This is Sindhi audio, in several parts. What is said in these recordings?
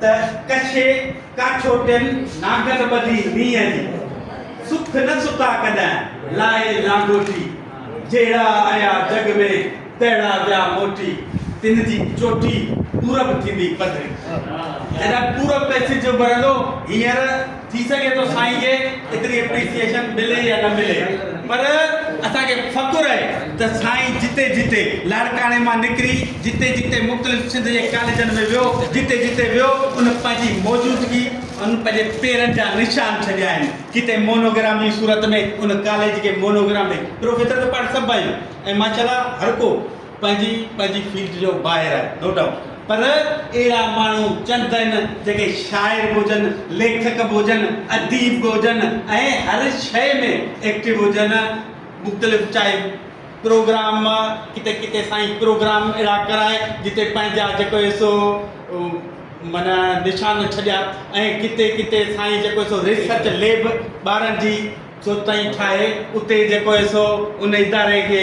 ته ڪڇي ڪاٺوٽين ناگن ٻڌي مينهن جي سک نه ستا ڪڏهن لائي لانگوٽي جهڙا آيا جڳ ۾ تهڙا ويا موٽي تن جي چوٽي پورب ٿيندي پڌري جڏهن پورب ۾ سج اڀرندو هينئر ٿي سگهي ٿو سائين کي ايتري اپريسيئيشن ملي يا نه ملي پر اسان کي فخر آهي ته سائين جتي جتي لاڙڪاڻي مان نڪري جتي جتي مختلف سنڌ جي ڪاليجن ۾ ويو جتي جتي ويو ان پنهنجي موجودگي ان پنهنجي پيرن جا نشان ڇڏيا آهن ڪٿي مونوگرام جي صورت ۾ ان ڪاليج کي مونوگرام ڏئي پروفيسر ته پاڻ سڀ آهيون ۽ ماشاءالله هر ڪو پنهنجي پنهنجي فيلڊ جو ماهر آهي نو ڊائوٽ پر اهڙا ماڻهو چند آهن جيڪي شاعر به هجن ليکڪ به هجن اديب به هجن ۽ هر شيء ۾ ايڪٽو هجن مختلف چاهي پروگرام ڪٿي ڪٿي سائين پروگرام اهڙا ڪرائي جتي پنهنجا جيڪو سو مانا نشان ڇڏيا ۽ ڪٿي ڪٿي سائين جيڪو سو ريسرچ ليب ٻارن جي جو تائين ٺاهي اتي جيڪو سو ان اداري کي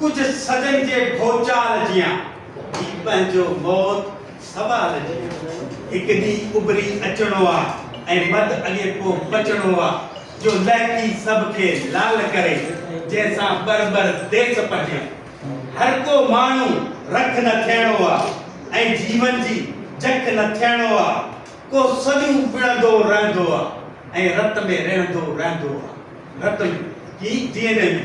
ڪجهه صدين جي ڀوچال جيان، هي پنهنجو موت سوال جيان. هڪ ڏينهن اڀري اچڻو آ ۽ مد اڳي ڪو پچڻو آ، جو لهڪي سڀ کي لال ڪري، جنهن سان ٻر ٻر ديس پهجن. هر ڪو ماڻهو رک نه ٿيڻو آ ۽ جيون جي جک نه ٿيڻو آ، ڪو سديون وڙهندو رهندو آ ۽ رت ۾ رهندو رهندو آ. رت ۾ هي ڊي اين اي ۾.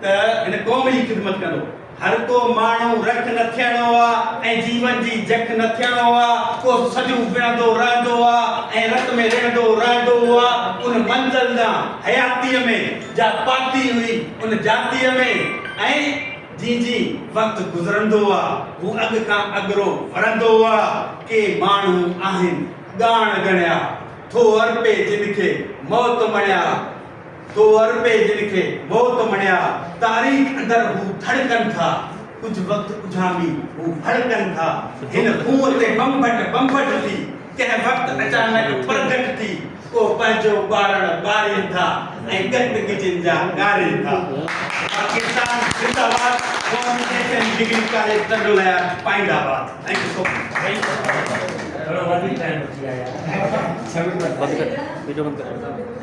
ته هن قوم جي خدمت ڪندو. هر ڪو ماڻهو رک نه ٿيڻو آ ۽ جيون جي جک نه ٿيڻو آ. ڪو سڄو وڙهندو رهندو آ ۽ رت ۾ رڙهندو رهندو آ. ان منزل ڏانهن حياتيء ۾ جا پاتي هئي ان جاتيء ۾ ۽ جيئن جيئن وقت گذرندو آ هو اڳ کان اڳرو وڙهندو آ. ڪي ماڻهو آهن ڳاڻ ڳڻيا، ٿو ارپي جن کي موت مڻيا. تو عربي جن کي موت مڙيا، تاريخ اندر هو ٿڙڪن ٿا، ڪجهه وقت اجهامي هو ڀڙڪن ٿا، هن خون تي بمبٽ بمبٽ ٿي، ڪنهن وقت اچانڪ پرگٽ ٿي، ڪو پنهنجو ٻارڻ ٻارين ٿا ۽ ڳٽ ڳجهين جا ڳارين ٿا. پاڪستان زنده باد قومي S M degree college Tando ليار پائيند آباد ٿينڪ يو سو مچ.